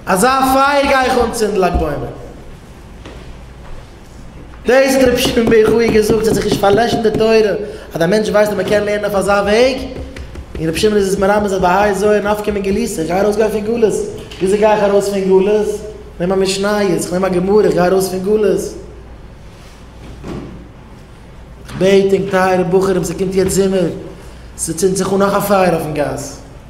אזא פייער גיי איך אנצינדן לג בעומר. דאס האט ר' שמעון בן חי געזאגט ס'האט זיך נישט פארלעשן די תורה אז א מענטש ווייסט אז מ'קען לערנען אויף אזא וועג, און ר' שמעון איז עס מרמז אז בהאי זויה נפקא מין גליסה, איך גיי ארויס גיין פון גלות, וויאזוי גיי איך ארויס פון גלות? כ'נעם א משניות, כ'נעם א גמרא, איך גיי ארויס פון גלות. כ'בעט ענק טייערע בחורים ס'קומט יעצט זומער, ס'צינדט זיך אן נאך א פייער אויפן גאס.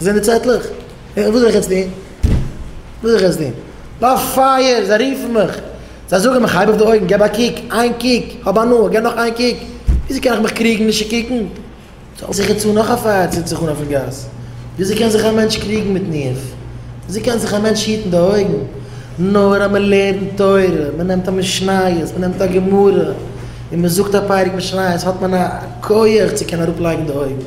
זענען די צעטלעך? וואס זאל איך יעצט טון? וואס זאל איך יעצט טון? באפייער! זיי רופן מיך! זיי זאגן מיך, הייב אויף די אויגן, געב א קוק, איין קוק, האב הנאה, געב נאך איין קוק, וויאזוי קען איך מיך קריגן נישט צו קוקן? זאל זיך יעצט אן נאך א פייער צינדט זיך אן אויפן גאס. וויאזוי קען זיך א מענטש קריגן מיט ניאוף? וויאזוי קען זיך א מענטש היטן די אויגן? נאר אז מ'לערנט תורה, מ'נעמט א משניות, מ'נעמט א גמרא, און מ'זאגט א פרק משניות האט מען א כח צו קענען אראפלייגן די אויגן.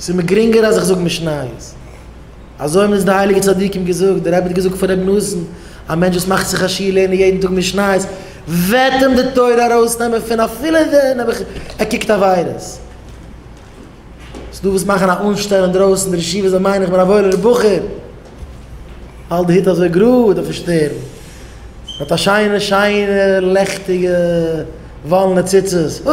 ס'איז מיר גרינגער אז איך זאג משניות. אזוי האבן אונז די הייליגע צדיקים געזאגט. דער רבי האט געזאגט פון רבי נתן, א מענטש וואס מאכט זיך א שיעור לערנען יעדן טאג משניות, וועט אים די תורה ארויסנעמען פון אפילו ווען ער קוקט עבירות. ס'איז דא וואס מאכן א אנשטעל אינדרויסן די ישיבה, זיי מיינען איך בין א וואוילער בחור. האלט די הוט אזוי גראד אויפן שטערן, מ'האט א שיינע שיינע לעכטיגע וואלענע ציצית, הו!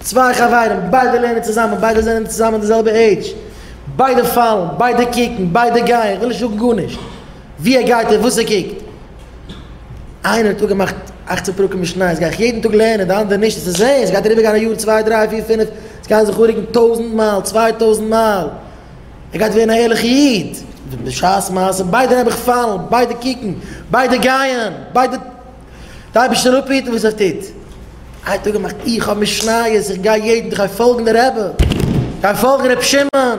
צוויי חברים, ביידע לערנען צוזאמען, ביידע זענען צוזאמען אין די זעלבע עידזש, ביידע פאלן, ביידע קוקן, ביידע גייען, כ'וויל נישט זאגן גארנישט, ווי ער גייט און וואס ער קוקט. איינער האט אפגעמאכט אכצן פרקים משניות גיי איך יעדן טאג לערנען, די אנדערע נישט, עס איז זעהן, עס גייט אריבערגיין א יאר צוויי דריי פיר פינף, עס גייען זיך אנרוקן טויזנט מייל, צוויי טויזנט מייל, ער גייט ווערן א ערליכע איד. בשעת מעשה ביידע נעבעך פאלן, ביידע קוקן, ביידע גייען, ביידע. די אייבערשטער זאל אפהיטן וואס ער טוט. איין טאג געמאכט איך האב משניות איך גיי יעדן איך גיי פאלגן די רבי גיי פאלגן רבי שמעון.